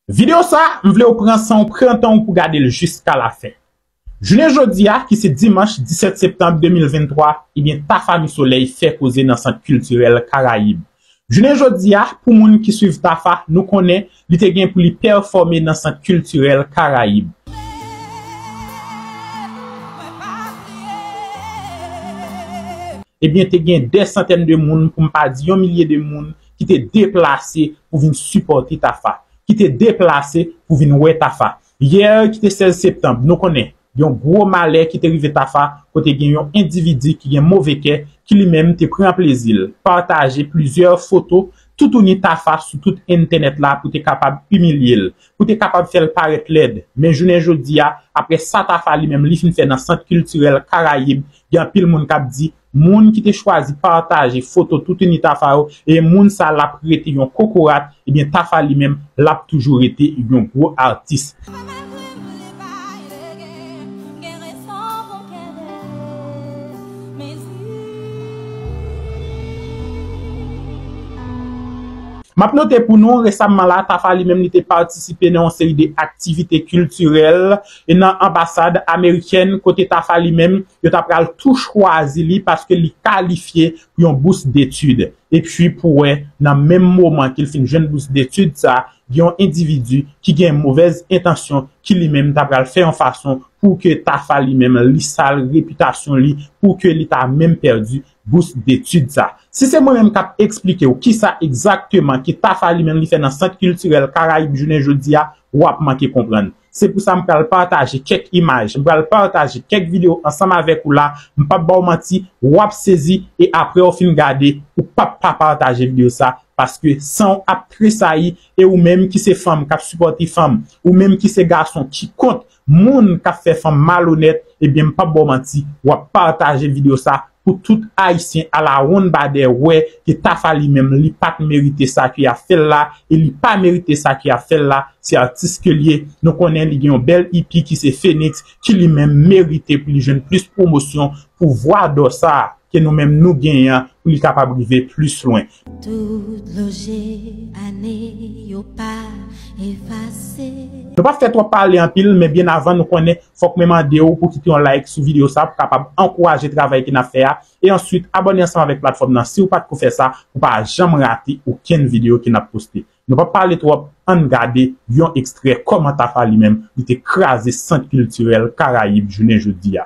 Video sa m vle w pran san w pran tan w pou gade l jiska la fen. Jounen jodi a ki se dimanch 17 septanb 2023 ebyen Tafa Misolèy fè koze nan sant kiltirèl Karayib. Jounen jodi a, pou moun ki swiv Tafa, nou konnen li te gen pou li pèfòme nan Sant Kiltirèl Karayib. Ebyen te gen dè santèn de moun, pou m pa di yon milye de moun, ki te deplase pou vin sipòte Tafa, ki te deplase pou vin wè Tafa. Yè ki te 16 septanb, nou konnen, gen yon gwo malè ki te rive Tafa kote gen yon endividi ki gen move kè ki li menm te pran plezi l pataje plizyè foto toutouni Tafa sou tout entènèt la pou te kapab imilye l, pou te kapab fè l parèt lèd. Men jounen jodi a, aprè sa Tafa li menm li fin fè nan Sant Kiltirèl Karayib, gen anpil moun k ap di, Moun ki te chwazi pataje foto toutouni Tafa yo e moun sa lap rete yon kokorat ebyen Tafa li menm lap toujou rete yon gwo atis. Map note pou nou, resamman la Tafa li menm li te patisipe nan yon seri de aktivite kiltirèl. e nan anbasad amerikèn kote Tafa li menm yo ta pral tou chwazi li paske li kalifye pou yon bous detid. Epi pou wè nan menm moman ke l fin jwenn bous detid sa, gen yon endividi ki gen movèz entansyon ki li menm ta pral fè yon fason pou ke Tafa li menm li sal repitasyon li pou ke li ta menm pèdi bous detid sa. Si se mwen menm k ap eksplike w kisa egzakteman ke Tafa li menm li fè nan Sant Kiltirèl Karayib jounen jodi a, w ap manke konprann. Se pou sa m pral pataje kèk imaj, m pral pataje kèk videyo ansanm avèk ou la, m pap ba w manti, w ap sezi e aprè w fin gade, ou pap pa pataje videyo sa, paske san w ap tresayi e ou menm ki se fanm k ap sipòte fanm, ou menm ki se gason ki kont moun k ap fè fanm malonèt, ebyen m pap ba w manti, w ap pataje videyo sa Pou tout ayisyen alawonn badè wè ke tafa li menm li pat merite sa ke yap fèl la e li pa merite sa ke yap fèl la se atis ke liye nou konnen li gen yon bèl ipi ki se Phoenix ki li menm merite pou li jwenn plis pwomosyon pou vwa dò sa ke nou menm nou genyen an pou li kapab rive plis lwen. Tout dlo je ane yo pa efase. Nou pap fè twòp pale anpil men byen avan nou konnen fòk mwen mandew pou kite yon like sou video sa pou kapab ankouraje travay ke nap fè a e answit abòne ansanm avèk platfòm nan siw pat ko fè sa pou pa janm rate okenn video ke nap poste nou pap pale twòp ann gade yon ekstrè kòman tafa li menm li te kraze sant kiltirèl karayib jounen jodia.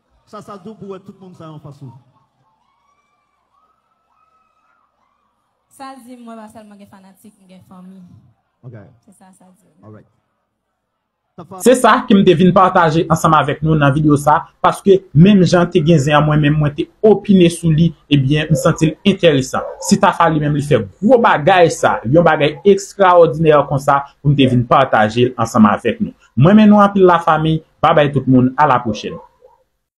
Sa sa dou pou wè tout moun sa yo anfas ou. Sa l di m mwen pa sèlman gen fanatik, m gen fanmi. Se sa sa di m. Se sa ke m te vin pataje ansanm avèk nou nan videyo sa, paske menm jan te gen zen an mwen menm mwen te opine sou li, ebyen m santi l enteresan. Si Tafa li menm li fè gwo bagay sa, yon bagay ekstraòdinè konsa, pou m te vin pataje l ansanm avèk nou. M renmen nou anpil la famiy, babay tout moun, a la pwochèn.